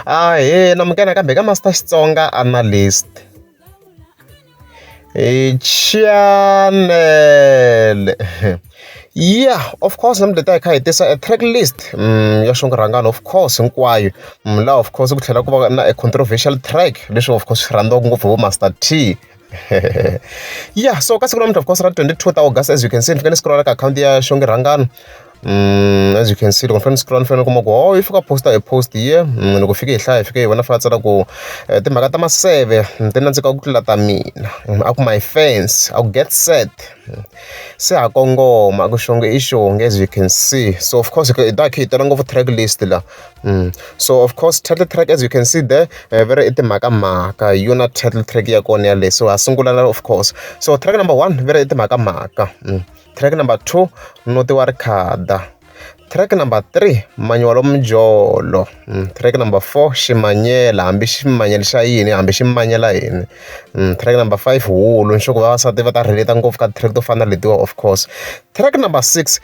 Ahee namukela kambe ka Master Xitsonga Analyst. Chanele ya of course namuntlha hi ta hi kha hi tisa e track list ya xinkarhana of course hinkwayo laha of course ku tlhela ku va na e controversial track leswi of course swi rhandziwaka ngopfu hi vo Master T. yeah so ka siku namuntlha of course ra 22 ta august as you can see ni fika ni scrolla ka akhawunti ya xonge rhangano Mm, as you can see loko ni fanele ni scrolla ni fanele ni kuma ku oh yi fika posta hi post ye mm, loko fike hi hlaya hi fike hi vona fana tsala ku eh, timhaka ta maseve mm, ti nandzika ku tlula ta mina mm, a ku my fans a ku get set mm, se ha kongoma ku xonge i xonge as you can see so of course hi ta hi tela ngopfu track list la So of course title track as you can see there va ri i timhakamhaka hi yona title track ya kona yaleyo so ha sungula la of course so track number one va ri i timhakamhaka track number two noti wa rikhada track number three manyiwalo mijolo track number four ximanyela hambi ximanyela xa yini hambi xi manyela yini track number five wulu ni sure ku vavasati va ta relate-a ngopfu ka track to fana na letiwa of course track number six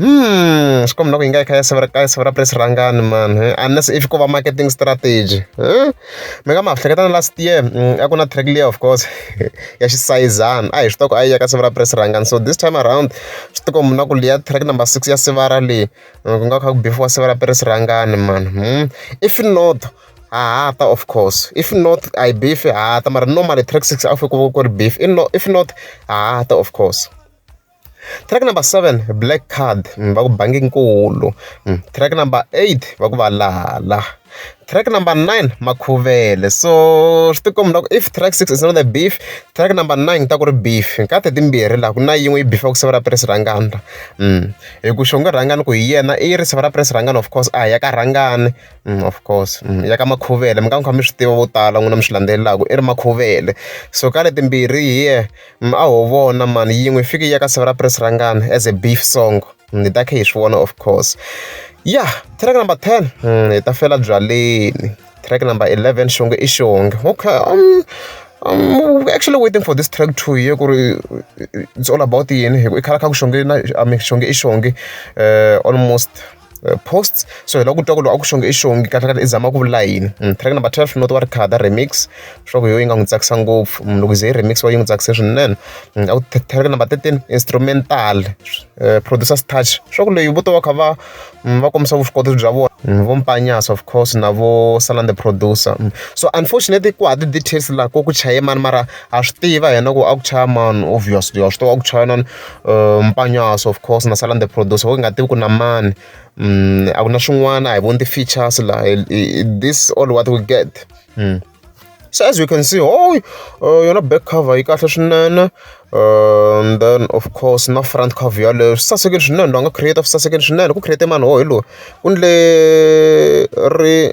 Hmm, swi komba ku yi nga yi kha ya severa ka severa press rangani man eh? unless if ko va marketing strategy eh? mi nga ma hleketa na last year mm, a ku na track leya of course ya xisayizana a hi swi toko a yi ya ka severa press rangani so this time around swi tiko muna ku leya track number six ya sevara leyi mm, ku nga kha ku bifiwa severa press rangani man hmm? if not hahata of course if not i beef hahata mara normally track six a fike ku ri beef if not hahata of course Track number seven black card va ku bangi nkulu. Track number eight va ku valala. Track number nine makhuvele so swi ti komba ku if track six is not a beef track number nine ku ta ku ri beef ka ti timbirhi laha ku na yin'we yi beef-aka siva ra press rhangana hi ku xonge rhangana ku hi yena i ri siva ra press rhangana of course a hi ya ka rhangani of course ya ka makhuvele mi nga mi kha mi swi tiva vo tala n'wina mi swi landzelelaka i ri makhuvele so ka letimbirhi hi yena. Mm, a ho vona mani yin'we fiki ya ka siva ra press rangana as a beef song mm, hi ta khe hi swi vona of course ya track number 10 mm, hi ta fela byaleni track number 11 xonge i xonge okay um, um, actually waiting for this track two ye ku ri it's all about yini hi ku i khala kha ku xonge na i mean xonge i xonge uh, almost posts so hi lava ku twa ku loko a ku xonge i xongi kahlekahle i zama ku vula yini hmm, track number 12 not wa ri khada remix leswaku yo yi nga n'wi tsakisa ngopfu hmm, loko ze yi remix wa yi n'wi tsakise swinene hmm, a ku track number 13 instrumental eh, producers touch leswaku leyi vo to va kha va va kombisa vuswikoti bya vona vo mpanyasa of course na vo salan the producer so unfortunately ku ha ti-details laha ko ku chaye mani mara ha swi tiva yena ku a ku chaya mani obviously wa swi tiva a ku chaya nani Mpanyaso of course na sala ni the producer wo hi nga tivi ku na mani a ku na swin'wana a hi voni ti-features la this all what we get se as you can see hooyi yona back cover yi kahle swinene then of course na front cover yaleyo swi sasekile swinene loyi a nga create swi sasekile swinene ku create mani wo hi loyi ku endle ri.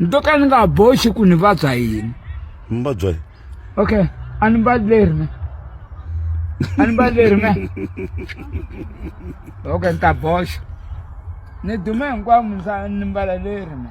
nto ka ni nga boxi ku ni vabya yini mi vabya yini okay a ni mbali leri me a ni mbali leri me okay ni ta boxa ni dume hinkwavo ni mbala leri me